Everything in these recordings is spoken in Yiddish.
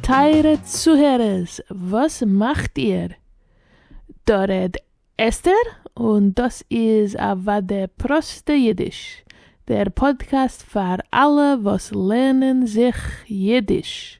טייערע צוהערערס וואס מאכט איר? דא רעד אסתר און דאס איז אוואדי פראסטע אידיש, דער פאדקעסט פאר אלע וואס לערנען זיך אידיש.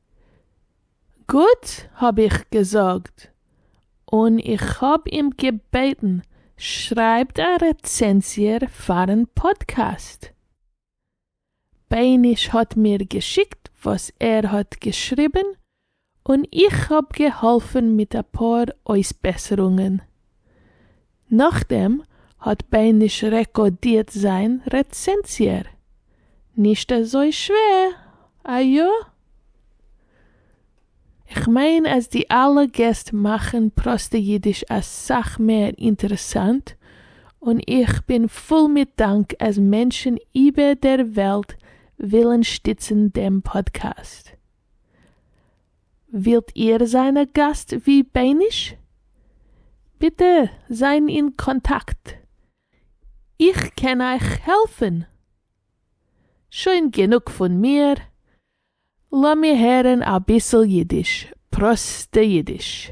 גוט האב איך געזאגט, און איך האב אים געבעטן שרייבט א רעצענזיע פארן פאדקעסט. בייניש האט מיר געשיקט וואס ער האט געשריבן און איך האב געהאלפן מיט אפאר אויסבעסערונגען. נאכדעם האט בייניש רעקאדירט זיין רעצענזיער. נישט אזוי שווער, איא? כ'מיין אז די אלע געסט מאכן פראסטע אידיש אסאך מער אינטערעסאנט, און איך בין פול מיט דאנק אז מענטשן איבער דער וועלט ווילן שטיצן דעם פאדקעסט. ווילט איר זיין א גאסט ווי בייניש? ביטע זיין אין קאנטאקט, איך קען אייך העלפן! שוין גענוג פון מיר, לאמיר הערן אביסל אידיש, פראסטע אידיש.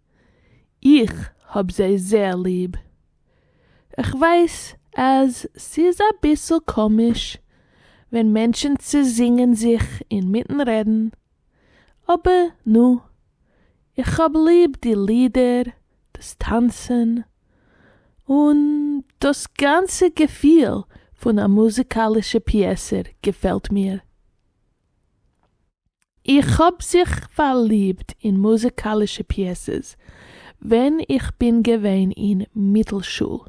איך האב זיי זייער ליב. כ'ווייס אז ס'איז אביסל קאמיש ווען מענטשן צעזינגען זיך אינמיטן רעדן, אבער נו, איך האב ליב די לידער, דאס טאנצן, און דאס גאנצע געפיל פון א מוזיקאלישע פיעסע געפעלט מיר. איך האב זיך פארליבט אין מוזיקאלישע פיעסעס ווען איך בין געווען אין מיטלשול.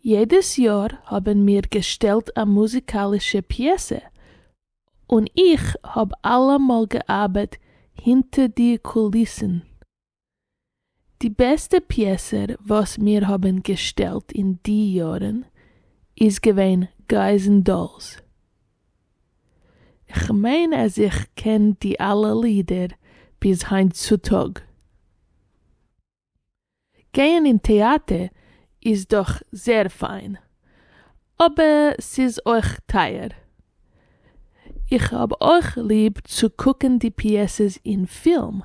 יעדעס יאר האבן מיר געשטעלט א מוזיקאלישע פיעסע, און איך האב אלעמאל געארבעט הינטער די קוליסן. די בעסטע פיעסער וואס מיר האבן געשטעלט אין די יארן איז געווען גייז ענד דאלס. כ'מיין אז איך קען די אלע לידער ביז היינט צוטאג. גייען אין טעאטע איז דאך זעהר פיין, אבער ס'איז אויך טייער. איך האב אויך ליב צו קוקן די פיעסעס אין פילם.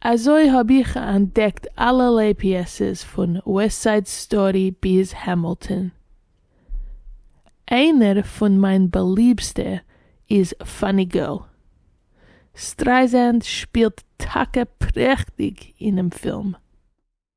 אזוי האב איך אנטדעקט אלערליי פיעסעס פון וועסט סייד סטארי ביז העמילטאן. איינער פון מיין באליבסטע איז פאני גערל. סטרייזענד שפילט טאקע פרעכטיג אינעם פילם.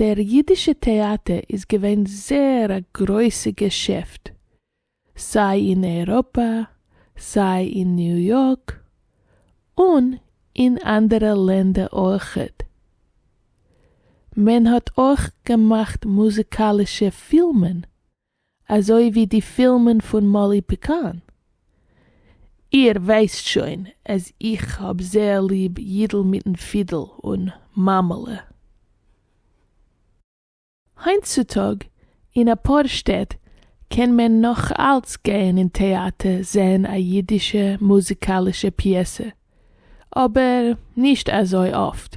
דער ייִדישע טעאַטער איז געווען זעהר אַ גרויסע געשעפֿט, סײַ אין אייראָפּע, סײַ אין ניו-יאָרק און אין אַנדערע לענדער אויכעט. מען האָט אויך געמאַכט מוזיקאַלישע פֿילמען אזוי ווי די פילמען פון מאלי פיקאן. איר ווייסט שוין אז איך האב זייער ליב יידל מיטן פידל און מאמעלע. היינט צו טאג אין אפאר שטעט קען מען נאך אלץ גייען אין טעאטער זעהן א יידישע מוזיקאלישע פיעסע, אבער נישט אזוי אפט.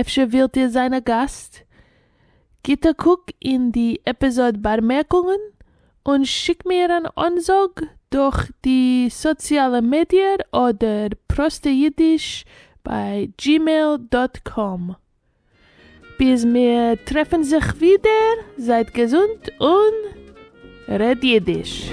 אפשר ווילט איר זיין א גאסט? גיט א קוק אין די עפיזאד בארמערקונגען און שיק מיר אן אנזאג דורך די סאציאלע מידיער אדער פראסטע אידיש ביי gmail דאט קאם. ביז מיר טרעפן זיך ווידער, זייט געזונט און. רעד אידיש!